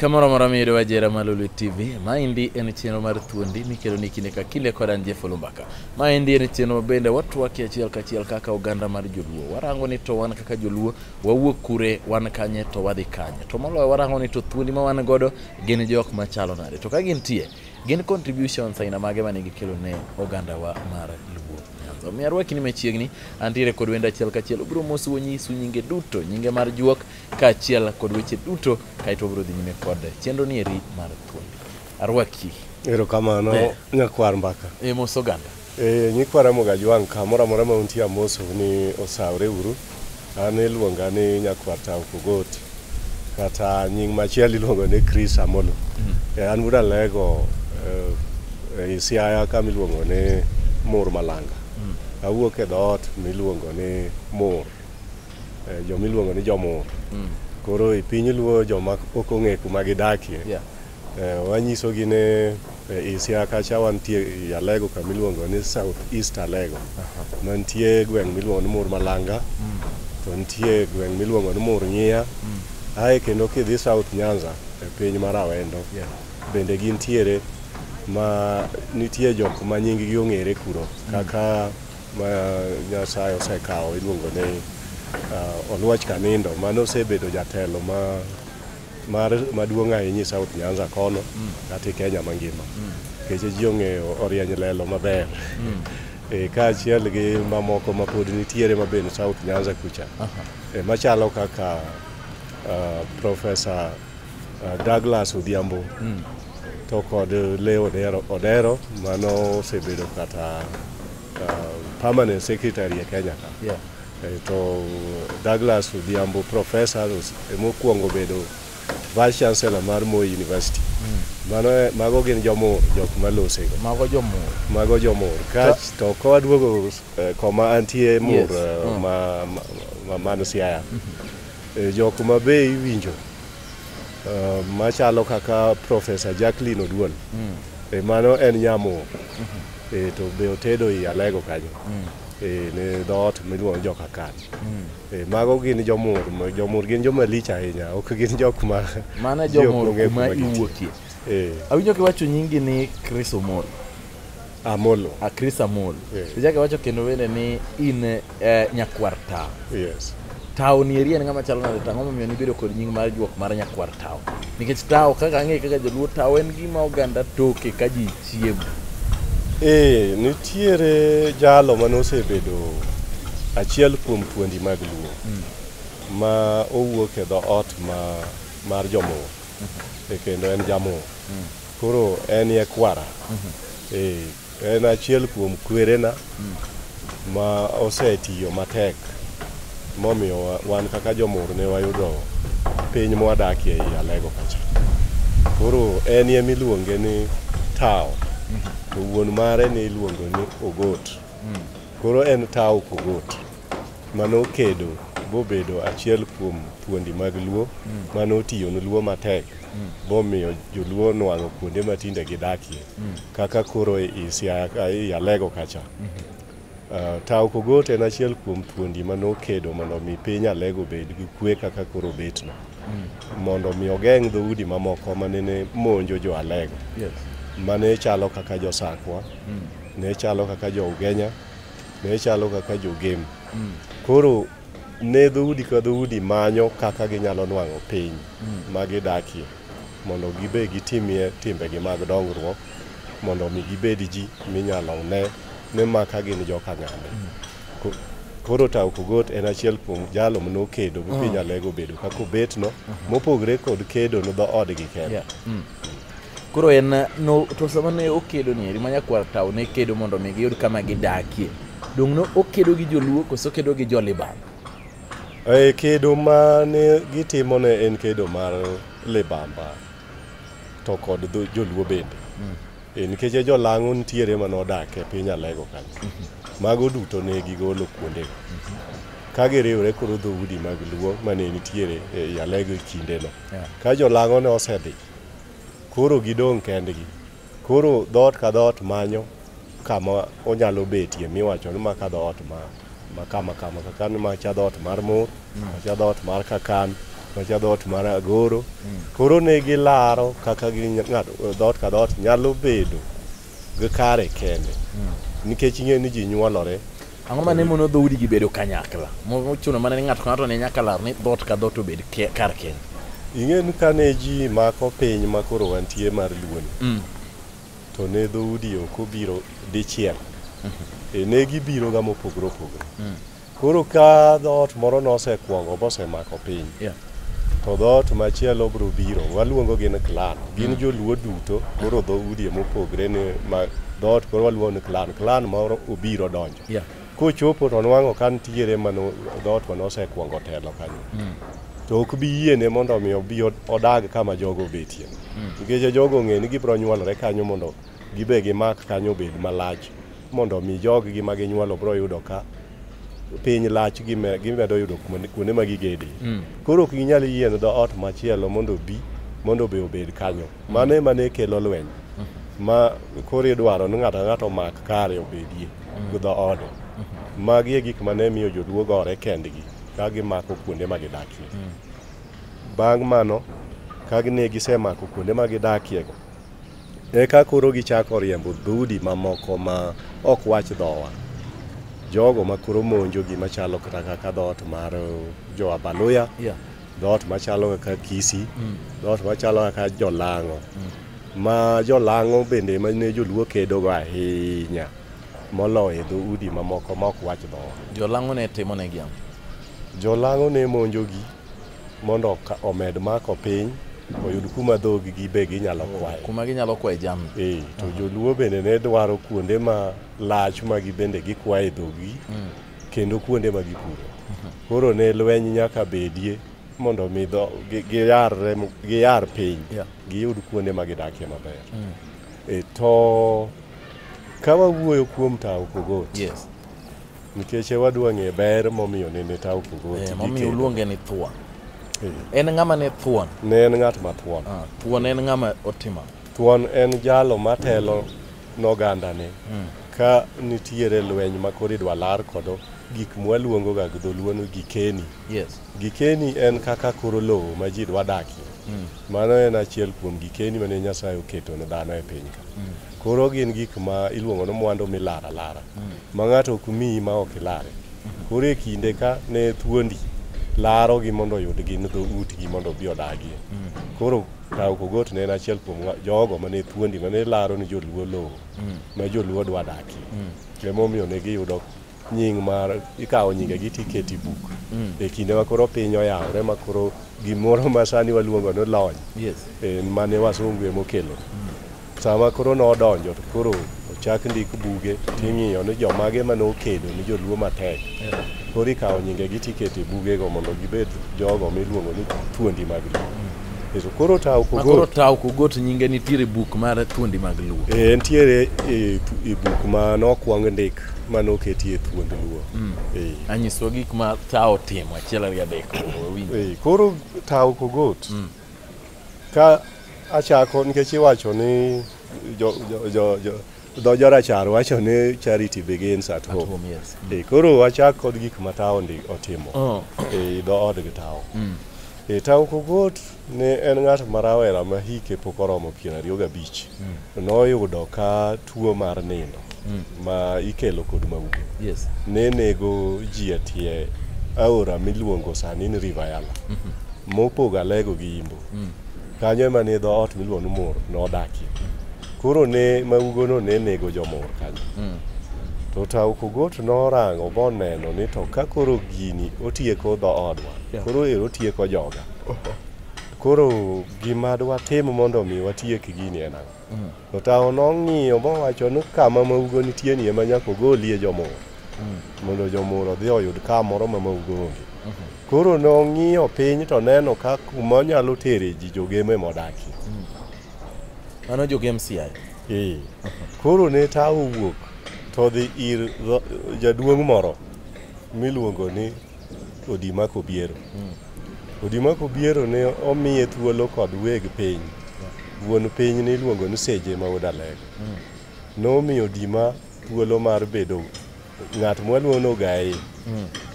kamoro moro miyudo wajera ma Lolwe TV. Maendi en chenro mar thuondi mikelo ni kinde ka kinde kod an Jeff Olumbaka. Maendi en chenro ma bende watwaki achiel kachiel kaka oganda mar Joluo. Warango ni to wan kaka Joluo wawuok kure wan kanye to wadhi kanye. To moloyo warango ni to thuondi ma wan godo gin jok machalo nade. To ka gintie Gin contributions aina mage mane gikelo ne ogandawa mar Luo Nyanza? Omiyo arwakini machiegni, antiere kod wenda achiel kachiel. Obiro mosu onyisu nyinge duto, nyinge mar juok kaachiel kod weche duto, kaeto obiro dhi nyime kod chenro ni eri mar thuondi. Arwaki. Erokamano Eh. nyakwar mbaka. E mos oganda. E, nyikwa Ramogi Ajwang' kamoro amora ma untie amosou ni osawre uru. An iluonga ni nyakwar Tao Pogoti kata nying machielo iluongo ni Chris Amolo. E, an wuod Alego e, ei Siaya kama iluongo ni Mur Malanga. Awuok e dhoot miluongo ni Mur, e, joma iluongo ni Jomur. Koro e piny luo joma ok ong'e kuma gidakie Yeah. Eh, wanyisogi ni eh, Isia kacha wantie i Alego kama iluongo ni South East Alego mantie gweng' miluongo ni Mur Malanga mm. to nitie gweng' miluongo ni Mur Ng'iya mm. ae kendo kidhi South Nyanza e piny mar Awendo bende gintiere ma nitie jok ma nyinggi ong'ere kuro mm. kaka ma Nyasaye osekawo iluongo ni uh, Oluoch Kanindo mano osebedo jatelo ma mar maduong' ahinya e South Nyanza kono mm. kata e Kenya mangima mm. keche ji ong'eyo orieny lelo maber mm. e, kaachiel gi mamoko ma pod nitiere mabende South Nyanza kucha e, machalo kaka uh, Profesa uh, Douglas Odhiambo mm. to kod Leo Odero, Odero mano osebedo kata uh, permanent secretary e Kenya ka yeah. Eh, to Douglas Odhiambo professor emokuongo bedo vice chancellor mar Moi University hmm. mano eh, mago gin jomur jok malosego mago jomur mago jomur kach to kawaduogo eh, koma antie mur hmm. ma mano Siaya hmm. jok ma be iwinjo machalo kaka professor Jacqueline Oduol mano en nyamur to be otedo i Alego kanyo e, ne dhoot miluongo ni jokakan hmm. e, mago gin jomur jomur gin joma lich ahinya ok gin jok ma mana jomur kuma iwuokie e. awinjo kiwacho nyingi ni chris omol amolo a ah, chris amol ichake wacho kendo wende ni in eh, nyakwar tawo yes tawo ni eria ni ng'ama chalo nade tang'o momiyo nibedo kod nying mar juok mar nyakwar tawo nikech tawo kaka ang'e kaka joluo tawo en gima oganda toke ka ji Siebo. Ee, nitiere jalo mane osebedo achiel kuom puondi mag Luo ma owuok e dhoot ma mar Jomuo e kendo en Jamuo. Koro en e kwara. Ee, en achiel kuom kwerena. ma osetiyo matek momiyo wa- wan kaka jomur ne wayudo piny mwadakie ei Alego kacha. Koro en ye miluonge ni Tao, to wuon mare ne iluongo ni Ogot. Koro en Tao Kogot mano kedo bobedo achiel kuom thuondi mag Luo mano otiyo ne Luo matek bomiyo joluo nwang'o kuonde ma tinde gidakie. mm. kaka koro i Alego kacha. Mm -hmm. uh, Tao Kogot en achiel kuom thuondi ma nokedo mondo omi piny Alego bed gi kwe kaka koro betno. Mm. Mondo omi ogeng' dhoudi mamoko ma nene monjo jo Alego. Yes. Ma ne chalo kaka jo Sakwa, mm. ne chalo kaka jo Ugenya, ne chalo kaka jo Gem. Mm. Koro ne dhoudi ka dhoudi manyo kaka ginyalo nwang'o piny mm. ma gidakie. mondo gibe gitimie timbegi mag dongruok mondo omi gibed ji minyalo ne ni ma ka gin joka ng'ane Ko- koro Tau Kogot en achiel kuom jalo mane okedo mi piny Alego obedo kaka obetno mopogre kod kedo no dhoodgi kende Yeah. Mm. koro en eh, no, to sama ne okedo ni eri ma nyakwar tao ne kedo mondo mi giyud kama gidakie dong' no okedo gi joluo koso okedo gi joliban E kedo ma ne gitimo ne en kedo mar libamba to kod dho- joluo bende e nikech e jolang'o nitiere ma nodak e piny alego kanyo mago duto ne gigolo kuondego ka giriwre koro dhoudi mag luo mane nitiere e alego e kindeno Yeah. ka jolang'o ne osedhi koro gidong' kendgi Koro dhoot ka dhoot manyo kama onyalo betie miwacho ni maka dhoot ma makama kama kaka ni macha dhoot mar mur macha dhoot mar kakan macha dhoot mar agoro koro ne gilaro kaka gi ng'ato dhoot ka dhoot nyalo bedo gi kare kende nikech ing'e ni ji nyuolore Ang'o ma ne mono dhoudigi bedo kanyakla? Mochuno mana ni ng'ato ka ng'ato ne nyaka lar ni dhoot ka dhoot obed ke- kar kende. Ing'e ni kane ji mako piny ma koro wantie mar Luoni, Mm. to ne dhoudi ok obiro dichiel. E ne gibiroga mopogore opogore. Koro ka dhoot moro nosekwongo mosemako piny, Yeah. To dhoot machielo biro biro, waluongo gin clan. Gin mm. joluo duto, koro dho udie mopogre ni ma dhoot koro waluongo ni clan. Clan moro obiro donjo. Yeah. Kochopo to nwang'o ka nitiere ma dhoot ma nosekwongo telo kanyo. Mm. To ok bi yiene mondo mi obi odag kama jogo obetie. Mm. Nikech mm. jogo ong'e ni gibiro nyuolore kanyo mondo gibe gimak kanyo obed malach mondo mi joggi ma ginyuolo biro yudo ka piny lach gime- gimedo yudo kuma- kuonde ma gigede Mm. koro ok ginyal yieno dho ot machielo mondo obi mondo be obed kanyo mano ema ne kelo lweny ma koro idwaro ni ng'ato ang'ato omak kare obedie gi dho ode magi e gik ma ne miyo joluo gore kendgi ka gimako kuonde ma gidakie bang' mano ka ne gisemako kuonde ma gidakiego Eka koro gichako riembo dhoudi mamoko ma ok wach dhowa. Jogo ma koro monjo gima chalo kata kaka dhoot mar jo Abaluya, Yeah. dhoot machalo kaka Kisi, Mm. dhoot machalo kaka Jolang'o. Ma Jolang'o bende ma ne joluo kedogo ahinya moloyo e dhoudi mamoko ma ok wach dhowa. Jolang'o ne timo ne gi ang'o? Jolang'o ne monjogi mondo ka- omed mako piny oyud kuma dhogi gi be ginyalo kwaye kuma ginyalo kwaye jamni Eh, to joluo bende ne dwaro kuonde ma lach ma gibende gikwaye dhogi kendo kuonde ma gipuro koro ne lweny nyaka bedie mondo mi dho- gi- giyarre mo- giyar piny Yeah. giyud kuonde ma gidakie maber Eh, to ka wawuoyo kuom tawo kogot yes Nikech e wadwa ng'e ber momiyo nene ta opogoti. Eh, momiyo uluonge ni thuon. Eh. En ng'ama ne thuon? Ne en ng'at ma thuon. Ah, thuon en ng'ama otimo? Thuon en jalo matelo noganda ni. Hmm. Ka nitiere lweny ma koro idwa lar kodo gik mwaluongo ga gi dholuo ni gikeni. Yes. Gikeni en kaka koro lowo ma ji dwa dakie. Mm. Mano en achiel kuom gikeni mane Nyasaye oketo ne dhano e piny ka. Mm. Koro gin gik ma iluongo ni mwandu milara lara mm. ma ng'ato ok miyi ma ok ilare. Mm-hmm. Koro e kinde ka ne thuondi larogi mondo oyud gin dho utgi mondo obi odagie. Mm. Koro kawo kogot ne en achiel kuom jogo mane thuondi mane laro ni joluo lowo mm. ma joluo dwa dakie. Mm. Emomiyo ne giyudo nying mar ikawo nyingegi to iketo e buk mm. e kinde ma koro piny oyawore ma koro gimoro ma sani waluongo ni lony e, mane wasungu ema okelo mm. sama koro nodonjo to koro ochak ndik buge ting'iyo ni jomage ma nokedo ni joluo matek koro ikawo nyingegi to iketo e bugego mondo gibed jogo miluongo ni thuondi mag luo mm. Eso koro taw kogot. Koro taw kogot nyinge nitiere buk mar thuondi mag luo. Eh nitiere e, e buk ma nokwang ndik mane oketie thuond luo mm. eh. anyiswa gik ma tawo timo achiel ariyo adek eh, koro tawo kogot mm. ka achako nikech iwacho ni dho jorachar wacho ni charity begins at home, at home yes. mm. eh, koro wachak kod gik ma tawo otimo oh. e eh, dho odgi tawo mm. e, tawo kogot Ne en ng'at ma rawera ma hike pok oromo piero ariyo gabich. Mm. Noyudo ka tuo mar nindo mm. ma ikelo kod maupe. Yes. Ne nego ji e tie aora miluongo sani ni River Yala. Mm -hmm. Mopogo Alego gi Imbo. Mm. Kanyo ema ne dho ot miluongo ni Mor nodakie. Koro ne maugono ne nego jomor kanyo. Mm. To Taukogot norango boneno ni to ka koro gini otieko dho odwa, yeah. koro ero otieko joga. koro gima dwatim mondo mi watiek gini en ang'o mm. to tawo nong'iyo mowacho ni kama maugo nitie ni ema nyaka ogolie jomoro mm. mondo jomoro odhi oyud kamoro ma maugo onge mm-hmm. koro nong'iyo piny to neno ka kuma onyalo tere ji jogeme modaki mm. mano jogem siayo ee mm-hmm. koro ne tawo wuok to dhi ir jaduong' moro miluongo ni Odima Kobiero. Odima Kobiero ne omiye thuolo kod weg piny. Wuon piny ne iluongo ni Seje ma Odalego. Nomiyo Odima thuolo mar bedo ng'at mwaluongo ni Ogaye.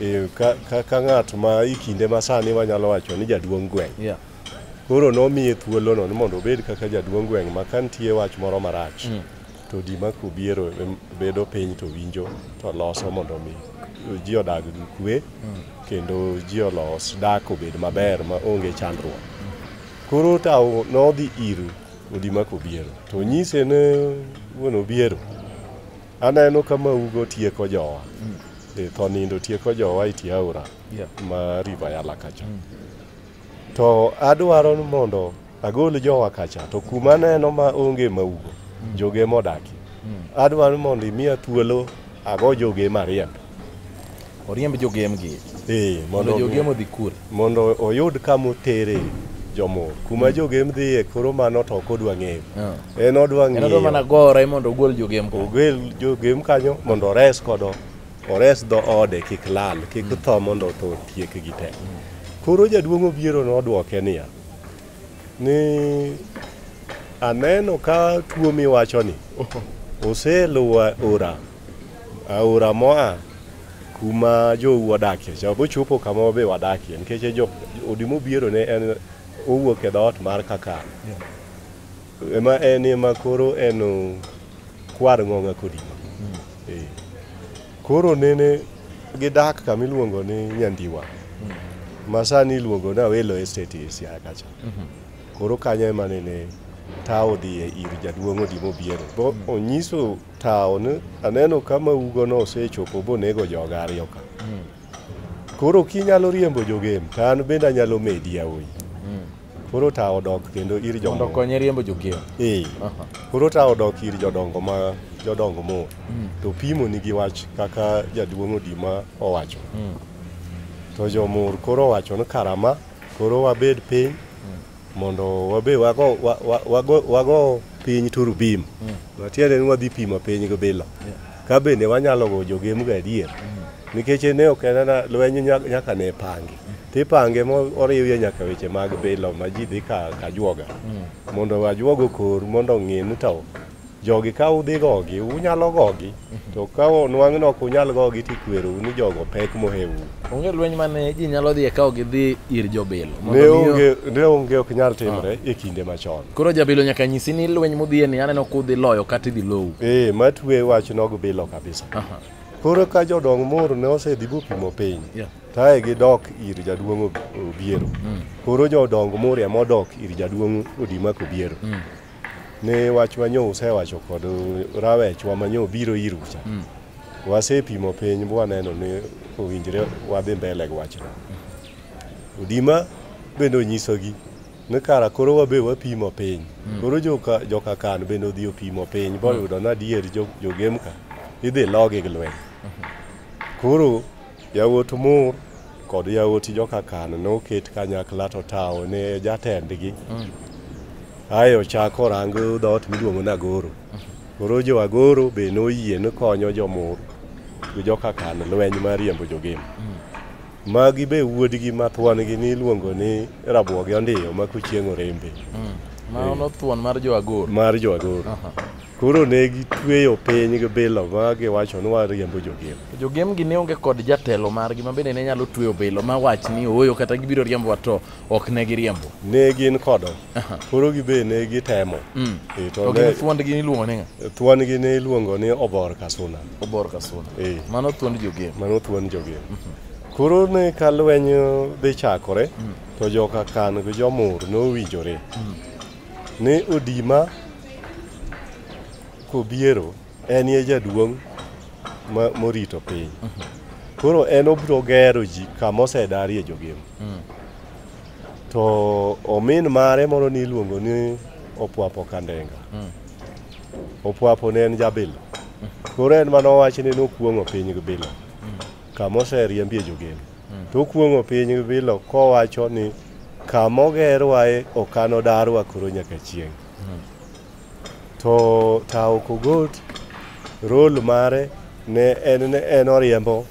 Eh, ka- ka- Ka ng'at ma i kinde ma sani wanyalo wacho ni jaduong' gweng'. Yeah. Koro nomiye thuolono ni mondo obed kaka jaduong' gweng' ma ka nitie wach moro marach to ji ma kobiero em, bedo piny to winjo to loso mondo mi ji odag gi kwe kendo ji olos dak obed maber ma onge chandruok koro tawo nodhi ir odi ma kobiero to nyise ne wuon obiero aneno ka maugo tieko jowa e tho nindo tieko jowa e tie aora Yeah. ma river yala kacha to adwaro ni mondo Agol jowa kacha to kuma aneno ma onge maugo mm. joge ema odakie. Mm. Adwaro mondo imiya thuolo ago joge mariemb. Oriemb jogemgi. Ee, mondo jogem odhi kure? Mondo oyud kama otere jomo kuma mm. jogem dhiye koro mano to ok odwa ng'eyo ah. en odwa ng'eyo mana gore mondo ogol jogem ogol jogem kanyo mondo ores kodo ores dho ode kik lal kik tho mondo otho tiekgi te koro jaduong' obiero nodwoke niya ni aneno ka tuo miwachoni oseluwo aora aora moa kuma jou wadakie cha bochopo kama wabe wadakie nikech e jo odi mobiro ne en owuok e dhoot mar kakar ema en ema koro en kwar ng'ong'a kodima Koro nene gidak kama iluongo ni Nyandiwa ma sani iluongo ni Awelo Estate e Siaya kacha. Koro kanyo ema nene tawo dhiye ir jaduong' Odimo Obiero. Bo onyiso tawo ni aneno kama ugono osechopo bonego joga ariyo ka. Koro kinyalo riembo jogem to an bende anyalo medi yawuoyi. Koro ta odok kendo ir jodongo. Mondo konye riembo jokeyo. Eh. Koro ta odok ir jodongo ma jodongo mo. Mm. To pimo ni gi wach kaka jaduong' Odima owacho. Mm. To jomur koro wacho ni karama koro wabed piny mm. mondo wabe wago wago wago piny turubim. Mm. Matiende ni wadhi pimo piny gi bila. Yeah. Ka bende wanyalo go jogem ga adier. Nikech ne ok en na lweny nyaka ne pangi. Tipange moriwie nyaka weche mag bilo ma ji dhi ka kajuoga. Mondo ajuoga okor mondo ong'e ni to jogi ka udhi gogi unyalo gogi. To ka onwang' ni ok unyal gogi tikwerou ni jogo pek mohewu. Onge lweny mane ji nyalo dhiye ka ok gidhi ir jobilo. Mondo Ne miyo- onge ne onge ok nyal timore e kinde machon. Koro jabilo nyaka nyisi ni lweny mudhiye ni aneno kudhi loyo kata idhi lowu. Ee, ma twe wach nog bilo kabisa. Aha. Koro ka jodong moro ne osedhi bopimo piny, Yeah. tae gidok ir jaduong' Ob- Obiero. Koro jodong Muria modok ir jaduong' Odima Kobiero. ne wach manyo usewacho kod rawechwa manyo biro iru cha mm. wasepimo piny bwaneno ni owinjre wadhi mbele gi wachno udima bende onyisogi ni kara koro wabe wapimo piny mm. koro joka, joka kan bende odhi opimo piny boyudo mm. nadier jogemka idhi logi gi lweny mm-hmm. koro Yawuot Mur kod yawuot joka Kan noket kanyakla to Tao ne jatendgi. Mm. Aye ochako orang dhoot miluongo ni Agoro. Koro jo Agoro be noyie ni konyo jo Mur gi joka Kan lweny mar riembo jogem. Mm. Magi be wuodgi ma thwangi ni iluongo ni Rabuogi Ondiyo ma kochieng' orembe. Mm. Ma ono thuon mar jo Agoro. Mar jo Agoro. Koro ne gitweyo piny gi bilo ma giwacho ni wariembo jogem. Jogem gi ne onge kod jatelo margi ma bende ne nyalo tweyo bilo ma wach ni ooyo kata gibiro riembo wato ok ne giriembo. Ne gin kodo. Koro gi be ne gitemo. Mm. E, to ne thuond gi iluongo ni nga? Thuond gi ne iluongo ni obor kasuna. Obor kasuna. E. Mano thuond jogem. Mano thuond jogem. Mhm. Koro ne ka lweny dhi chakore mm. to joka kan gi jomur nowinjore. Mm. Ne odima kobiero en ye jaduong' morito piny. Koro en obiro gero ji kama osedarie jogem. To omin mare moro ni iluongo ni Opwapo Kandenga. Opwapo ne en jabilo. Koro en mano wach ni nokuong'o piny gi bilo. Kama oseriembie jogem. To okuong'o piny gi bilo kowacho ni Kama ogerwae ok anodarwa koro nyaka chieng'. To Tao Kogot role mare ne en ne en oriembo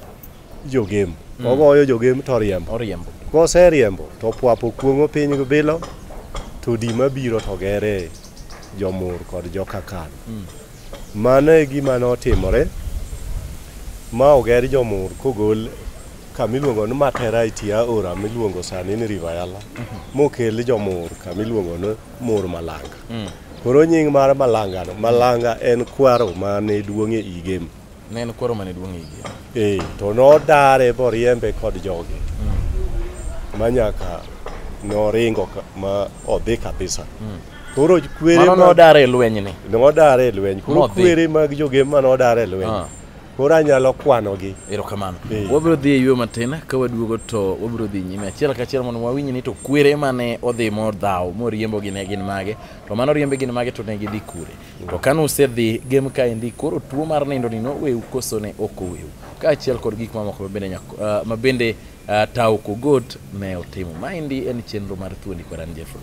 jogem. Ogoyo jogem to oriembo. Oriembo. Koseriembo to pwapo kuong'o piny gi bilo to di mabiro to gere jomur kod jokakan. Mano e gima notimore ma oger jomur kogol kama iluongo ni Matera e tie aora miluongo sani ni River Yala mokel jomur kama iluongo ni Mur Malanga. Koro nying mar Malangano, Malanga en kwaro mane duong' e Igem. Ne en kwaro mane duong' igi. Ee, to nodare boriembe kod jogi mm. ma nyaka noringo ka, ma odhi kabisa mm. koro kwere ma nodare e lweny ni nodare e lweny koro kwere mag joge ma nodare e lweny ah. koro anyalo kwanogi erokamano eh. wabiro dhi e yo matin ka waduogo to wabiro dhi nyime achiel ka achiel mondo wawinj ni to kwere mane odhi modhaw moriembogi ne gin mage to mano oriembe gin mage to ne gidhi kure To kane usedhi game kaendi, koro tuo mar nindo ni noweu koso ne ok oweu? Kaachiel kod gik mamoko ma bende nyako- ah, ma bende ah, tawo kogot ne otimo. Maendi en chenro mar thuondi kod an Jeffrey.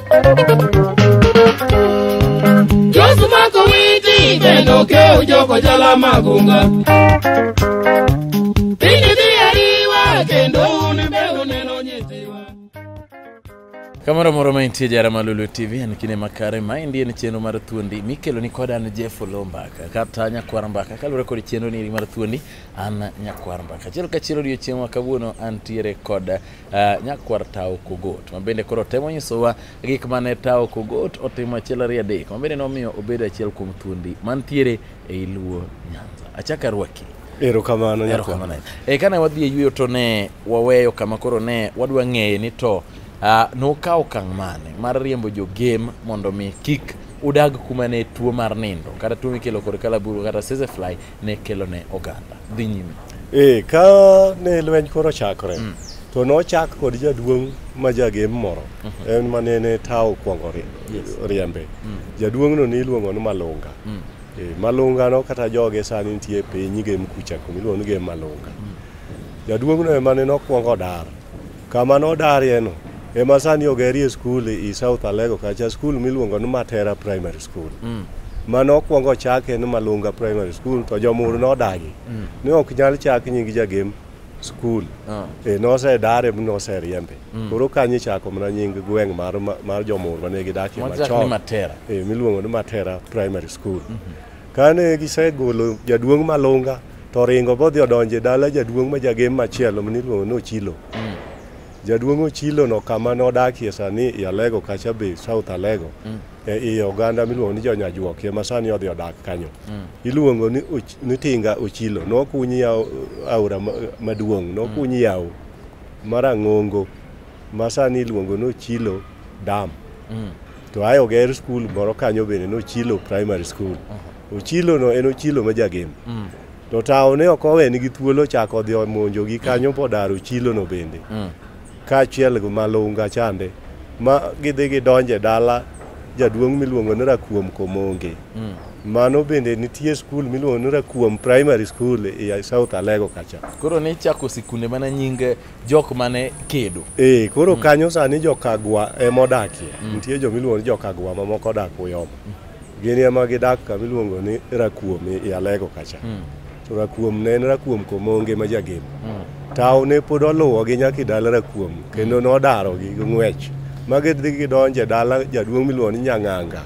Josumako witi bendo keu joko jala magunga Pinyi dhi ariwa kendo un be uneno nyithiwa Kamoro moro ma intie jara Malulu TV en kinde makare ma endi en chenro mar thuondi mikelo ni kod an Jeff Olombaka kata Nyakwar Mbaka kaluwore kod chenro ni mar thuondi an Nyakwar Mbaka. Achiel kachiel odiochieng' ma kawuono antiere kod Uh, nyakwar tawo kogot ma bende koro temo nyisowa gik mane tawo kogot otimo achiel ariyo adek ma bende nomiyo obedo achiel kuom thuondi mantiere ei luo nyanza achaka rwaki erokamano erokamano e, kane wadhi e yueyo to ne waweyo kama koro ne wadwa ng'eye ni to uh, nokawo okang' mane mar riembo jogem mondo mi kik udag kuma ne tuo mar nindo kata tuo mikelo kod kalaburu kata sesefly ne kelo ne oganda dhi nyime ee eh, ka ne lweny koro chakore mm. to nochak kod jaduong' ma jagem moro mm -hmm. en ma nene tawo kwongo riembe yes. mm. jaduong'no ne iluongo ni malunga mm. e, malunga no kata joge sani nitie e piny gem kucha kumiluongo ni gem malunga mm. jaduong'no ema ne nokwongo dar Kama nodarieno ema sani ogerie skul i South Alego kacha, skul miluongo ni Matera Primary School. Mm. Mano okwongo chake ni Malunga Primary School to jomur nodagi. Mm. Ni ok nyal chak nying jagem skul. Ah. E nosedare mi noseriembe. Mm. Koro kanyo ichako mana nying gweng' mar, mar jomur mane gidakie machon. E, miluongo ni Matera Primary School. Mm -hmm. Kane gisegolo jaduong' malunga to oringo bodhi odonje dala jaduong' ma jagem machielo maniluongo ni Ochilo. Mm. Jaduong' Ochilo no kama nodakie sani i Alego kacha be South Alego. Mm. E i oganda miluongo ni Jonyajuokie ma sani odhi odak kanyo. Mm. Iluongo ni, och, ni Tinga Ochilo. Nokunyi yawo aora maduong', nokunyi mm. yawo marang'ongo. ma sani iluongo ni Ochilo Dam. Mm. To ae oger skul moro kanyo bende ni Ochilo Primary School. Uh -huh. Ochilo no en Ochilo ma jagem. Mm. To tawo ne ok owe nigi thuolo chako odhi omonjo gi kanyo mm. podar Ochilo no bende. Mm. Kaachiel gi Malunga chande ma gidhi gidonje dala jaduong' miluongo ni Rakuom Komonge. Mm. Mano bende nitie skul miluongo ni Rakuom Primary School e South Alego kacha. Koro ne ichako sikunde mana nyinge jok mane kedo ee koro mm. kanyo sani jokagwa ema odakie mm. nitie jo miluongo ni jokagwa mamoko odak uyoma mm. gin ema gidak kama iluongo ni rakuom i alego kacha mm. to rakuom ne en rakuom komonge ma jagemo mm. tawo ne pod oluwogi nyaka i dala rakuom kendo mm. nodarogi gi ng'wech ma gidhi gidonje dala jaduong' miluongo ni nyang'anga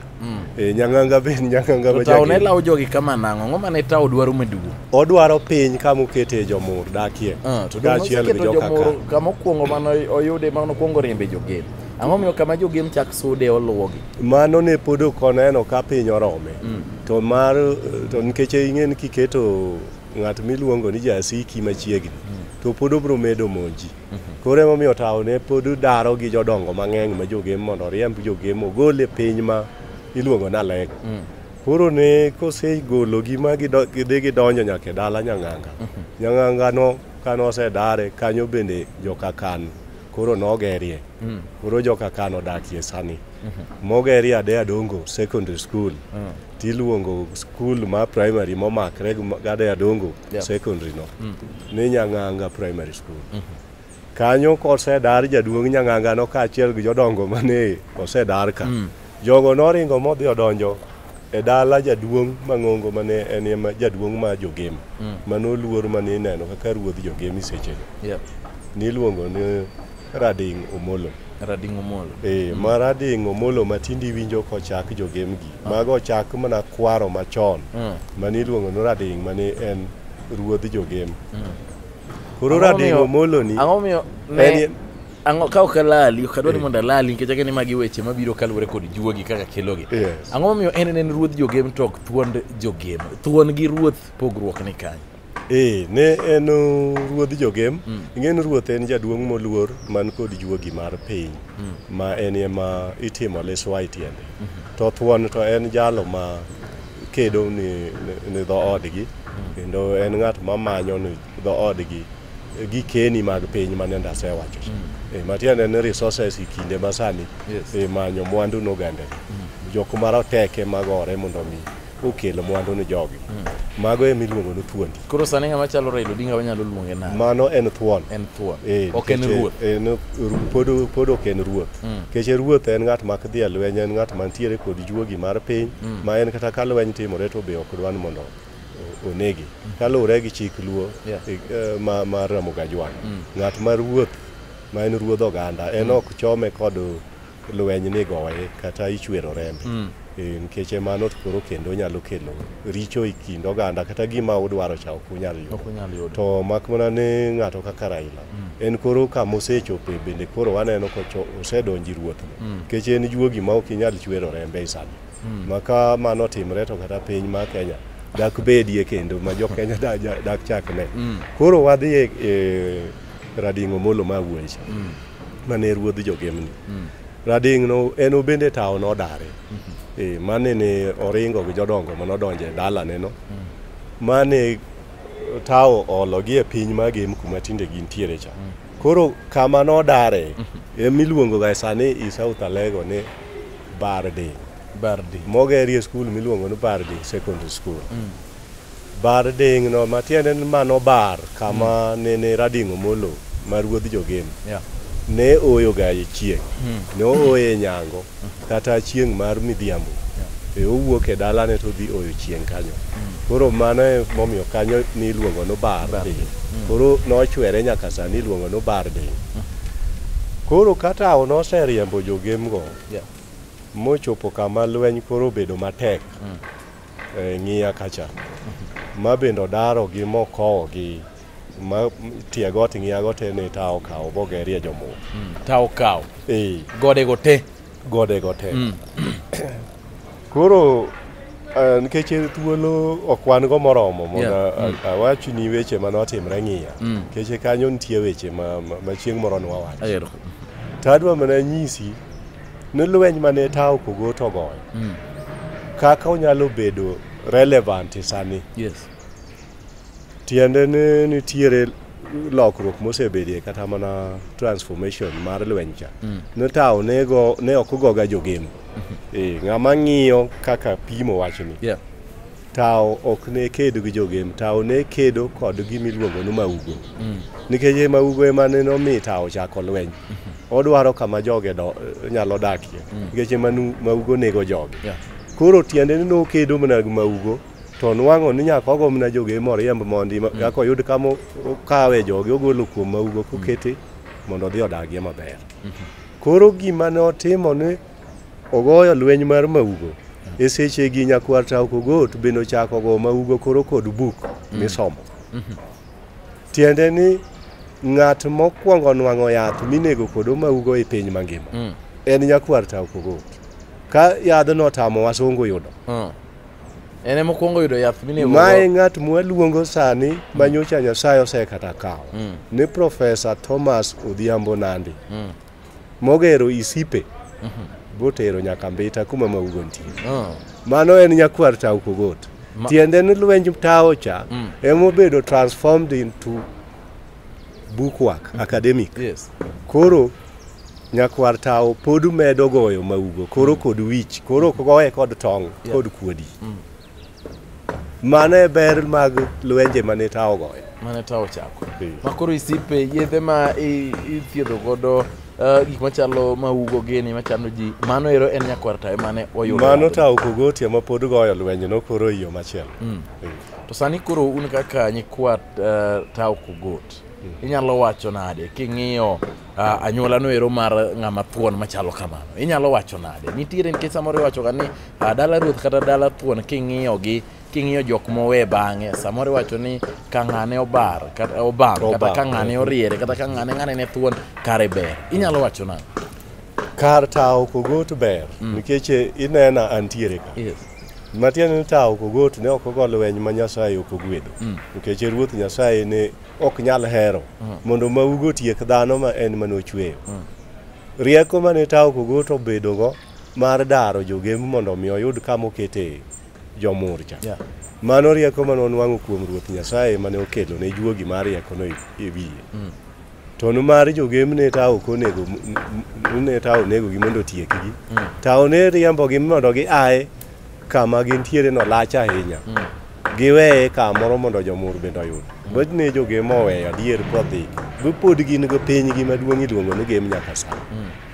Eh, nyang'anga be nyang'anga ma Tao ne jagin. lawo jogi kama nang'o? Ang'o mane tao dwaro maduong'? Odwaro piny kama okete jomur dakie. Ah, to dong' Kaachiel gi oseketo joka jomoro Kan. kama okuongo mane oyude mane okuongo riembe jogem. Ang'o miyo kama jogem chak sude oluwogi? Mano ne pod ok oneno ka piny orome. To mar to nikech ing'e ni kiketo ng'at miluongo ni jasiki machiegni to pod obro medo monji. Koro emomiyo tawo ne pod daro gi jodongo mang'eny ma jogem mondo oriemb jogem ogol e piny ma iluongo ni Aleg. Mm. Koro ne kosegologi ma gidhi gidonjo nyaka e dala Nyang'anga. Mm-hmm. Nyang'angano ka nosedare kanyo bende jokakan koro nogerie. Mm. Koro jokakan odakie sani. Mm-hmm. Mogerie Adeya Dongo Secondary School. Mm. tiluongo skul ma primary momakre gi gada ya dongo Yeah. secondary no ni nyang'anga primary school kanyo kosedar jaduong' nyang'anga no kaachiel gi jodongo mane osedar ka jogo noringo modhi odonjo e dala jaduong' mang'ongo mane en ema jaduong' ma jogem manoluor mane ineno kaka ruodh jogemi sechego Yeah. niluongo ni Rading Omolo. Rading Omolo. Eh, mm. ma Rading Omolo ma tindi winjo kochak jogemgi. Ah. Mago ochak mana kwaro machon. Mm. Mani iluongo ni Rading mani en ruodh jogem. Mm. Koro Rading Omolo ni. Ang'o miyo ne ang'o ka ok alali ok adwa ni eh. mondo alali nikech akeni magi weche mabiro kaluwore kod juogi kaka kelogi ang'o momiyo en en ruodh jogem to ok thuond jogem thuon gi ruoth pogruok ni kanyo Ee, ne en uh, ruodh jogem mm. ing'e ni ruoth en jaduong' moluor man kod juogi mar piny mm. ma en ema itimo liswa e tiende mm -hmm. to thuon to en jalo ma kedo ni, ni dhoodgi mm. kendo en ng'at ma manyo ni dhoodgi gi keni mag piny ma nende asewacho mm. e, matiende ni resources e kinde masani yes. e, manyo mwandu nogandegi mm. jok maroteke magore mondo mi okelo mwandu ni jogi mago ema iluongo ni thuondi Koro sani ng'ama chalo Raila Odinga wanyalo luonge nade? mano en thuon En thuon. Eh, Ok en nikech, ruoth. eh, en ru- pod pod ok en ruoth nikech ruoth en ng'at mak dhi e lweny en ng'at mantiere kod juogi mar piny ma en kata ka lweny timore to be ok dwan mondo o- onegi kaluwore gi chik luo Yeah. eh, eh, ma- mar ramoga jwang ng'at ma ruoth ma en ruodh oganda en ok chome kod lweny ni goye kata ichwero rembe mm. e, nikech e, mano koro kendo nyalo kelo richo e kind oganda kata gima udwaro cha ok unyal yudo to mak mana ni ng'ato kaka Raila mm. en koro kama osechope bende koro waneno osedonji ruoth mm. nikech en juogi ma ok inyal chwero rembe e sani mm. maka mano timre to kata piny ma Kenya dak bedie kendo ma jo Kenya dak chakne mm. koro wadhi e, e radingo molo ma wuoyi mm. mane ruodh jogemni mm. rading no en obende tawo nodare mm -hmm. e, mane ne oringo gi jodongo mane odonje dalane no mm. mane tawo ologi e piny magem kuma tinde gintiere cha mm. koro kama nodare mm -hmm. emiluongo ga sani i south alego ni bardi bardi mogerie skul miluongo ni bardi secondary school mm. Bar ding'no, ma tiende ni mano bar kama nene Rading Omolo ma ruodh Jogen Yeah. ne ooyoga e chieng'. Ne ooye e nyango kata chieng' mar midhiambo. E owuok e dalane to odhi oyo chieng' kanyo. Koro mano e momiyo kanyo ni iluongo ni bar ding'. Koro nochwere nyaka sani iluongo ni bar ding'. Koro ka tawo noseriembo jogemgo Yeah. mochopo kama lweny koro obedo matek, e, ng'iya kacha ma bende odaro gi mokowo gi ma tie got ng'iya got en ni tawo kawo bogerie jomuo mm, tawo kawo e. gode go te gode go te mm. koro e, nikech uh, thuolo ok wan go moromo mondo yeah. mm. awach ni weche mane otimre ng'iya mm. nikech mm. kanyo nitie weche ma, ma, ma chieng' moro nwawacho to adwa mana nyisi ne lweny mane tawo kogot ogoyo mm. kaka onyalo bedo relevant e sani yes. tiende ni nitiere lokruok mosebedie kata mana transformation mar lweny cha mm. ne tawo ne ok ogoga jogeno mm -hmm. e, ng'ama ng'iyo kaka pimo wachni yeah. Tao ok ne kedo gi jogem, tao ne kedo kod gima iluongo ni maugo. Mm. Nikech e maugo ema ne nomi tao chako lweny. Mm-hmm. Odwaro kama joge do, nyalo dakie. Mm. Nikech ema maugo nego joge. Yeah. Koro tiende ni nokedo mana gi maugo to nwang'o ni nyaka ogo mana joge moriemb mondi mm. kaka oyud kama okawe joge ogolo kuom maugo kokete mm. mondo odhi odagie maber. Mm-hmm. Koro gima ne otimo ni Ogoyo lweny mar maugo. E sechegi nyakwar Tauko Got bende ochako go maugo koro kod buk mm. misomo. Mm-hmm. Tiende ni ng'at mokwongo nwang'o yath minego kod maugo e piny mangima mm. en nyakwar Tauko Got. Ka yadhno otamo wasungu yudo. Mm. En ema okwongo yudo yath minego. Mae ng'at mwaluongo sani mm. ma nyocha Nyasaye osekata kawo. Mm. Ni Profesa Thomas Odhiambo Nandi. Mm. mogero isipe botero nyaka mbita kuma maugo nitie Ah. mano en nyakwar tau kogot Ma- tiende ni lwenj tao cha Mm. emobedo transformed into bookwork academic Yes. koro nyakwar tao pod medo goyo maugo koro kod wich koro ok goye kod tong Yeah. kod kuodi Mano e ber mag lwenje mane tawo ogoyo. Mane tawo ochako. Ma koro isipe yedhe ma ithiedho godo eh, gik machalo maugo gini machando ji mano ero en nyakwar tayo mane oyudo mano tawo kogotia ma pod goyo lwenje no koro iyo machielo mm. to sani koro un kaka nyikwa eh, tawo kogot mm. inyalo wacho nade king'iyo Uh, anyuola no ero mar ng'ama thuon machalo kamano inyalo wacho nade nitiere nikech samoro iwachoga ni uh, dala ruoth kata dala thuon king'iyogi king'iyo jok mowe bang'e samoro iwacho ni ka ng'ane obar kata obam kata ka ng'ane oriere kata ka ng'ane ng'ane ne thuon kare ber inyalo wacho nade kar tawo kogot ber mm. nikech eh, inena antiere ka yes. matiende ni tawo kogot ne ok ogo lweny ma nyasaye ok ogwedo mm. nikech ruoth nyasaye ne ok nyal hero mm. mondo maugo tiek dhano ma en mane ochweyo mm. rieko mane tawo kogoto obedogo mar daro jogem mondo omi oyud kama okete jomurcha yeah. mano rieko mane onwang'o kuom ruoth nyasaye mane okelo ne juogi mar riekono e, e wiye mm. to nimar jogem ne tawo ok onego ne tawo onegogi mondo otiekgi mm. tawo ne riembogi mondo gi aye kama gintiere no lach ahinya giweye kamoro mondo jomur bende oyud bet ni jogem oweyo adier kodhi gipod gin go pinygi maduong' iluongo ni gem nyaka sa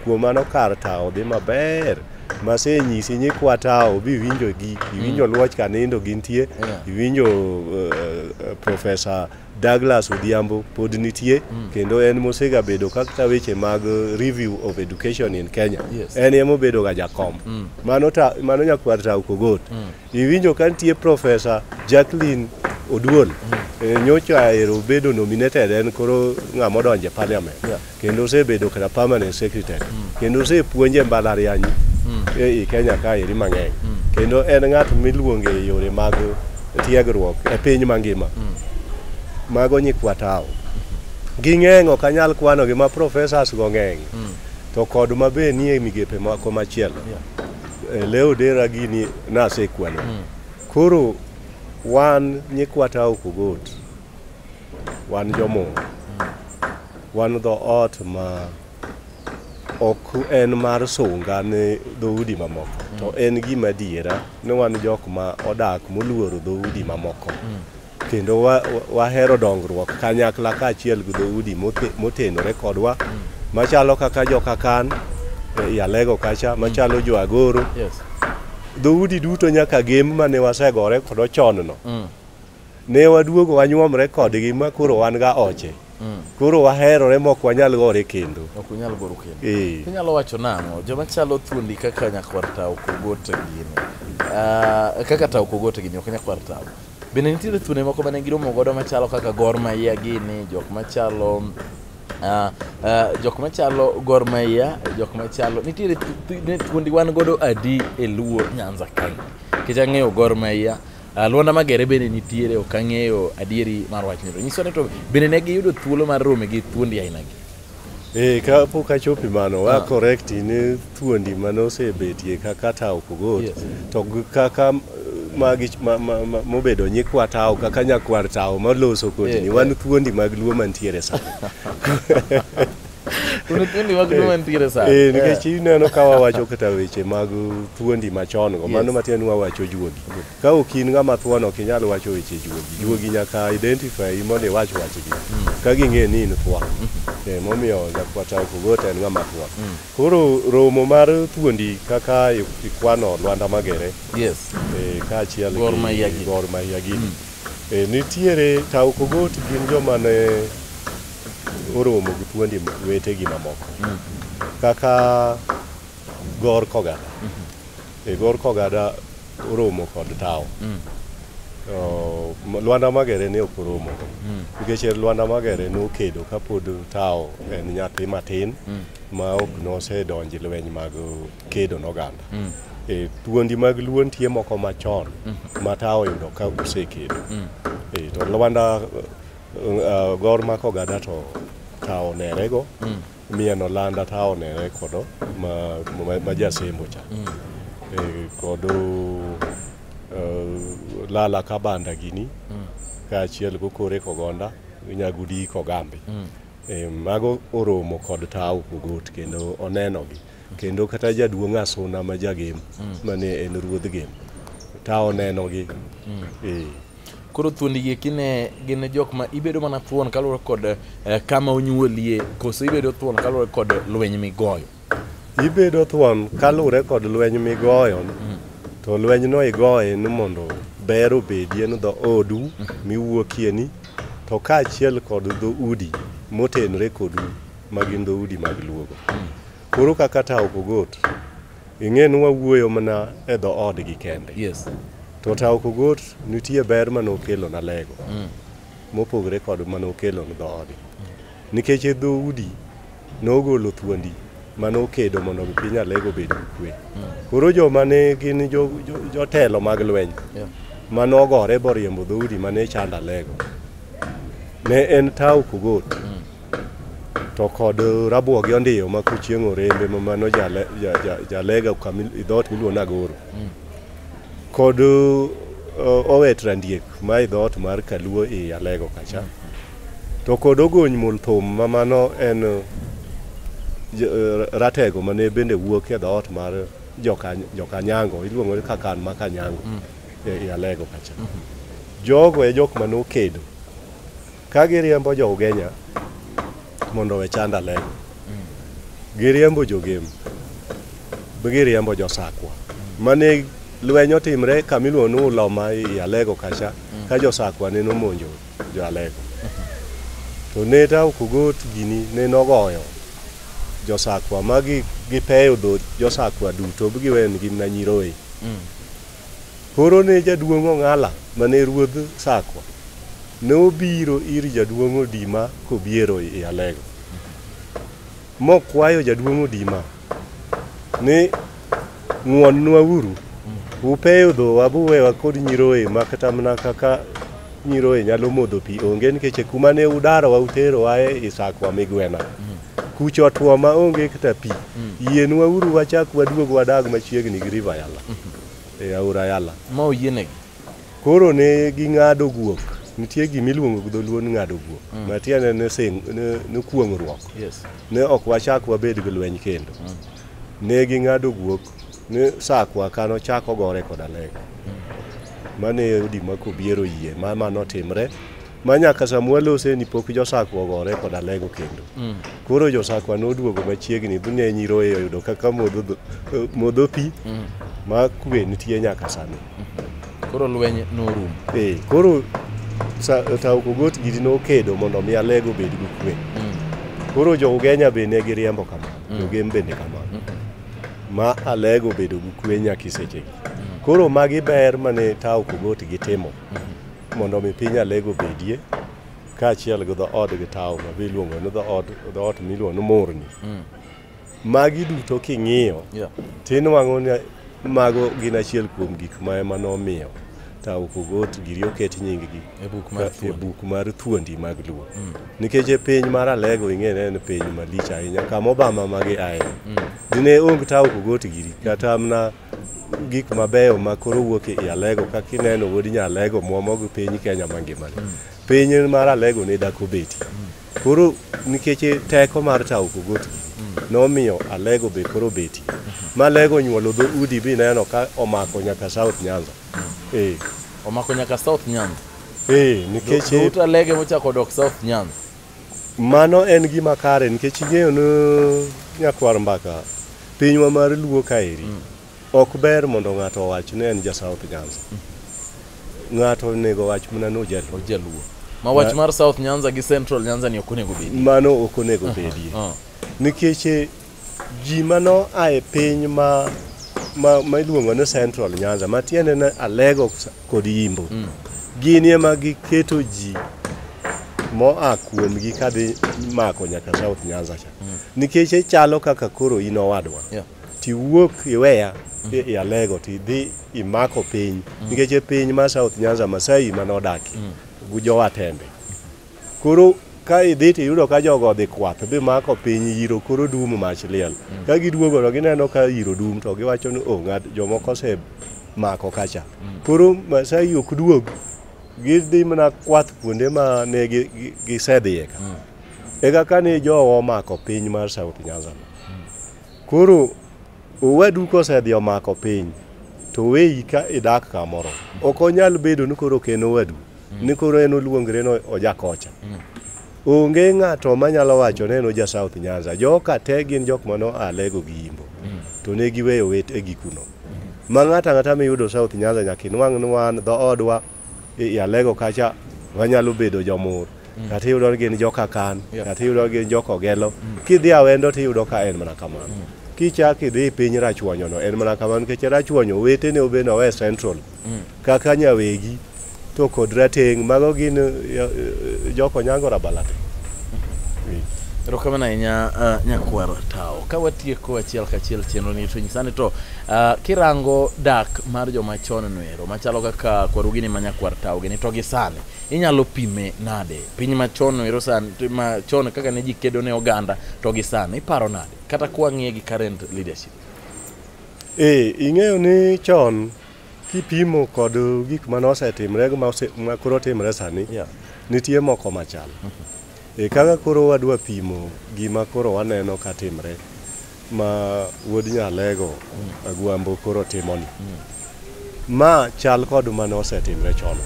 kuom mano kar tawo dhi maber masenyisi nyikwa tawo bi iwinjo gi iwinjo luoch kanindo gintie Yeah. iwinjo uh, profesa Douglas Odhiambo pod nitie mm. kendo en mosega bedo kakta weche mag uh, review of education in Kenya yes. en emo bedo ga jakom mm. mano ta mano nyakwar ta ukogot mm. iwinjo ka nitie professor Jacqueline Oduol mm. e, nyocha ero bedo nominated en koro ng'ama odonje parliament yeah. kendo osebedo kata permanent secretary kendo osepuonje e mbalariany e i Kenya ka eri mang'eny kendo en ng'at miluongo e yore mag tiegruok e piny mangima mago nyikwa tawo ging'eny ok anyal kwanogi ma professors go ng'eny to kod ma be nie migepe moko machielo Eh, leo dera gini nasekwano koro wan nyikwa tawo kogot Wan jomur. Wan dho ot ma ok en mar sunga ne dhoudi mamoko mm. to en gima adiera ni wan jok ma odak moluoro dhoudi mamoko mm. kendo wahero dongruok kanyakla kaachiel gi dhoudi motenore kodwa mm. machalo kaka jokakan e, ialego kacha machalo jo agoro dhoudi duto nyaka gem mane wasegore kodo chonno ne waduogo wanyuomre kodgi ma koro wan ga oche mm. koro waherore mok wanyal gore kendo ok unyal goro kendo eh. inyalo wacho nang'o joma chalo thuondi kaka nyakwar tawo kogote gini ah, kaka tawo kogote gini ok nyakwar tawo bende nitiere thuonde moko mane giromo godo machalo kaka gor mahia gini jok machalo Uh, uh, jok machalo gor mahia jok machalo nitiere thuondi wan godo adi e luo nyanza kae nikech ang'eyo gor mahia Ah, Luanda Magere bende nitiere ok ang'eyo adieri mar wachni to nyiso ni to bende ne giyudo thuolo mar rome gi thuondi ainagi. Eh, ka pok achopi mano wa correct ni thuondi mane osebetie kaka tawo kogot Yes. to gi kaka m- magi ma- ma- ma- mobedo nyikwa tawo kaka nyakwar tawo maloso kodini Yeah, wan thuondi mag luo mantiere sani Eh, nikech eh. ineno ka wawacho kata weche mag thuondi machon go mano matiende ni wawacho juogi ka ok in ng'ama thuon ok inyal wacho weche juogi mm. juogi nyaka identify mondo iwach wachgi mm. ka ging'e ni in thuon mm-hmm. eh, momiyo jakwata kogot en ng'ama thuon mm. koro romo mar thuondi kaka ikwano lwanda magere kaachiel gor mahia gini nitiere tao kogot gin joma ne oromo gi thuondi wetegi mamoko kaka gor kogada e gor kogada oromo kod tawo Oh, m- lwanda magere ne ok oromo nikech en lwanda magere nokedo kapod tawo en nyathi matin ma ok nosedonji lweny mag kedo noganda e thuondi mag luo nitie moko machon ma tawo yudo ka osekedo e to lwanda Uh, gor mako gada to tawo nerego mm. mieno landa tawo nere kodo ma, ma, ma jasembo cha mm. e, kodo uh, lala kabanda gini mm. kaachiel gokore kogonda nyagudi kogambe mm. e, mago oromo kod tawo kogot kendo onenogi kendo kata jaduong' asuna ma jagem mm. mane en ruodh gem tawo nenogi mm. e, koro thuondi gi eki ne gin jok ma ibedo mana thuon kaluwore kod eh, kama onyuolie koso ibedo thuon kaluwore kod lweny migoyo ibedo thuon kaluwore kod lweny migoyo mm. to lweny no igoye ni mondo ber obedie ni dho odu mm. miwuokie ni to kaachiel kod dho udi motenre kodu magin dho udi mag luogo mm. koro kaka tawo kogot Ing'e ni wawuoyo mana e dho odgi kende. Yes. To Tao Kogot nitie ber ma nokelo na lego. Mm. Mopogre kod ma nokelo na dho odgi. Nikech e dho udi nogolo thuondi ma nokedo mondo piny alego bed gi kwe. Mm. Koro jo ma ne gin jotelo mag lweny ma nogore boriembo dho udi ma ne chanda lego. Ne en Tao Kogot. Mm. to kod rabuo gi ondiyo ma kuchieng' orembe ma mano jale- ja- ja- jalega kama i- dhoot miluongo ni agoro kod uh, owet randiek ma i dhoot mar kaluo i alego kacha to kod ogony mul thum ma mano en uh, j- uh, ratego mane bende wuok e dhoot mar joka- jokanyango iluongo ni kakan ma kanyango e i alego kacha jogo e jok mane okedo Ka giriembo jo Ugenya mondo we chanda leng. Giriembo jo Gem. Giriembo jo Sakwa. Mane lweny otimre kama iluongo ni Uloma i Alego kacha ka jo Sakwa ne nomonjo jo Alego. To ne tao kogot gini ne nogoyo jo Sakwa ma gi gipeyo dho jo Sakwa duto giwenigi mana nyiroye. Koro ne jaduong' Ong'ala ma ne ruodh Sakwa ne obiro ir jaduong' Odima kobiero i Alego, mokwayo jaduong' Odima ni ng'wonnwa uru, upeyo dhowa buwewa kod nyiroye ma kata mana kaka nyiroye nyalo modho pi onge nikech kuma ne udarowa uterowa e Sakwa migwena. Kucha otwo ma onge kata pi. Yienwa uru wachak waduog wadag machiegni gi River Yala. e aora Yala. Ma oyienegi. Koro ne ging'ado guok. Nitie gima iluongo gi dholuo ni ng'ado guok. Mm. Ma tiende ne sing ne, ne kuong'ruok. Yes. Ne ok wachak wabed gi lweny kendo. Mm. Ne ging'ado guok ni sakwa kano chako gore koda lega. Mm. Mane odi ma kobiero yie ma ma notimre. ma nyaka sama walose ni pok josakwa ogore koda lego kendo mm. koro josakwa noduogo machiegni ne nyiroye oyudo kaka modho pi mm. ma kwe nitie nyaka sani mm-hmm. koro lweny norum ee koro taokogot gidi nokedo mondo mi alego bed gi kwe mm. koro jougenya be ne giriembo kamano jogem bende kamano mm-hmm. ma alego bedo gi kwe nyaka isechegi koro magi ber mane taokogot gitimo mm-hmm. mondo omi piny alego bedie kaachiel gi dhood gi tawo ma be iluongo ni dhood dhoot miluongo ni murni mm. magi duto king'iyo yeah. tinwang'o ni mago gin achiel kuom gik ma ema nomiyo tawo kogot giri oket nyinggi e buk mar e thuondi mag luo mm. nikech e piny mar alego ing'ene en piny malich ahinya kama obama magi aye mm. dine ong tawo kogot giri kata mna gik mabeyo ma koro wuok e Alego kaka ineno wuod nya Alego mwomo gi piny Kenya mangima ni. Piny mar Alego ne dako beti. Koro nikech teko mar tawo kogot nomiyo Alego be koro beti. Ma Alego nyuolo dho udi bi neno ka omako nyaka South Nyanza. Eh, Omako nyaka South Nyanza. eh nikech Dhout Alege mochako dok South Nyanza. Mano en gima kare nikech ing'eyo ni nyakwar mbaka pinywa mar luo kaeri mm. ok ber mondo ng'ato owach ni en ja South Nyanza. Mm. Ng'ato onego wach mana ni ojaluo. Ojaluo. Ma wach mar South Nyanza gi Central Nyanza ni ok onego bedie. Mano ok onego bedie. Nikech Ji ma noa e piny ma ma ma iluongo ni Central Nyanza ma tiende ni Alego kod Yimbo gini ema giketo ji moa kuomgi kadhi mako nyaka South Nyanza cha nikech ichalo kaka koro in owadwa Yeah. tiwuok iweya i i Alego tidhi imako piny nikech e piny ma South Nyanza Masai manodakie gi jowatembe Koro ka idhi to iyudo ka jogo odhi kwath bi mako piny yiro koro dum mach liel. Mm. Ka giduogo to gineno ka yiro dum to giwacho ni o oh, ng'at jomoko ose mako kacha. Mm. Koro Masai ok duog gidhi mana kwath kuonde ma ne gisedhiye ka. Mm. Eka ka ne jowa omako piny mar South Nyanza. Koro owadu kosedhi omako piny to weyi ka idak kamoro. Ok onyal bedo ni koro ok en owadu, ni koro en oluongre ni ojakocha. Onge ng'ato manyalo wacho ni en oja South Nyanza. Joka te gin jok mane oa Lego gi Yimbo, to ne giweyo wetegi kuno. Ma ng'ato ang'ata miyudo South Nyanza nyaka inwang' ni wan dhoodwa i Alego kacha wanyalo bedo jomur. mm. kata iyudo ni gin joka kan yeah. kata iyudo ni gin joka ogelo mm. kidhi awendo to iyudo ka en mana kamano mm. kichak idhi e piny rachwonyono en mana kamano nikech rachwonyo wetene obe nowe central mm. kaka nyawegi to kod rateng' mago gin eh, eh, joko nyango rabalate erokamano ahinya uh, nyakwar tawo ka watieko achiel kachiel chenro ni to nyisani to uh, kirango dak mar joma chon noero machalo kaka kwarugini ma nyakwar tawo gini to gi sani inyalo pime nade piny machon ero san machon kaka ne ji kedo ne oganda to gi sani iparo nade kata kwang'iye gi current leadership ee ing'eyo ni chon kipimo kod gik mane osetimre gi ma koro timre sani yeah. nitie moko machal mm -hmm. e kaka koro wadwa pimo gima koro waneno ka timre ma wuod Nyalego Agwambo koro timoni. Ma chal kod mane osetimre chon.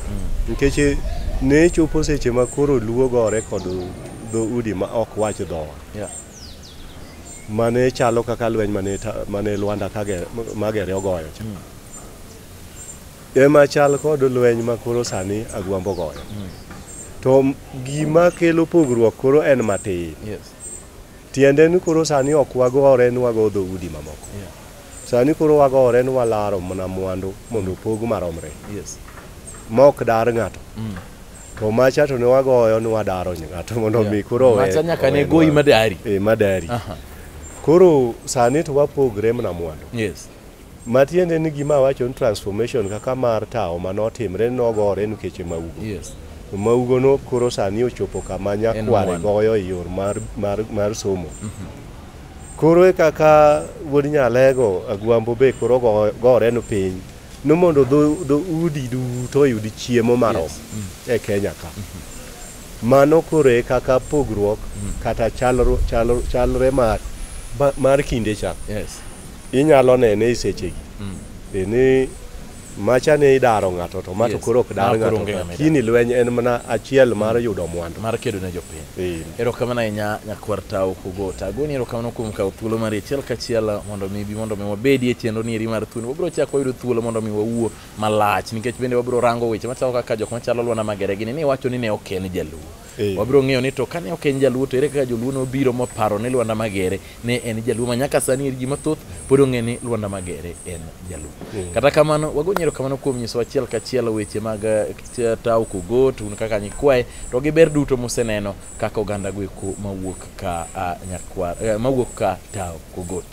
Nikech ne chopo seche ma koro luo gore kod dho udi ma ok wach dhowa. Yeah. Mane chalo kaka lweny mane, ta- mane Lwanda kage, magere ogoyo cha. Ema chal kod lweny ma koro sani Agwambo goyo. To m- gima kelo pogruok koro en matin. Yes. Tiende ni koro sani ok wagore ni wago dho udi mamoko. Yeah. Sani koro wagore ni walaro mana mwandu mondo opog maromre. Yes. Mok dar ng'ato. Mm. To macha to ne wagoyo ni wadaro ng'ato mondo mi koro owe. Macha nyaka ne goyi madari. Eh, madari. Aha. Koro sani to wapogre mana mwandu. Yes. Matiende ni gima awacho ni transformation kaka mar tawo ma notimre nogore nikeche maugo. Yes. To maugo no koro sani ochopo kama En nyakware one. goyo e yor mar, mar, mar somo. Koro e kaka wuod Nyalego Agwambo be koro go- gore no piny ni mondo dho, dho udi duto oyud chiemo marom Yes. e Kenya ka. Mano koro e kaka pogruok kata chalro, chalro, chalre mar, ba- mar kinde cha. Yes. Inyalo nene e sechegi e ni macha ne idaro ng'ato to ma to Yes. koro ok dar Ma koro onge ng'ato ng'ama kini lweny en mana achiel mar yudo mwandu mar kedo ne jopiny Eh, erokamano ahinya nyakwar tao kogota agoni erokamano kuom kawo thuolo mari achiel kachiel mondo mi bi mondo mi wabedi e chenro ni eri mar thuno wabiro chako wayudo thuolo mondo mi wawuo malach nikech bende wabiro rango weche machalo kaka jok machalo lwana magere gini ni wacho ni ne ok en jaluo Ee. wabiro ng'eyo ni to kane ok en jaluo to ere kaka joluo nobiro moparo ni Lwanda Magere ne en jaluo ma nyaka sani eri ji mathoth pod ong'e ni Lwanda Magere en jaluo. Kata kamano wago nyero kamano kuom nyiso achiel kachiel weche mag eh, Tao Kogot un kaka nyikwaye to gi ber duto museneno kaka oganda gweko mawuok ka ah, nyakwar eh, mawuok ka Tao Kogot.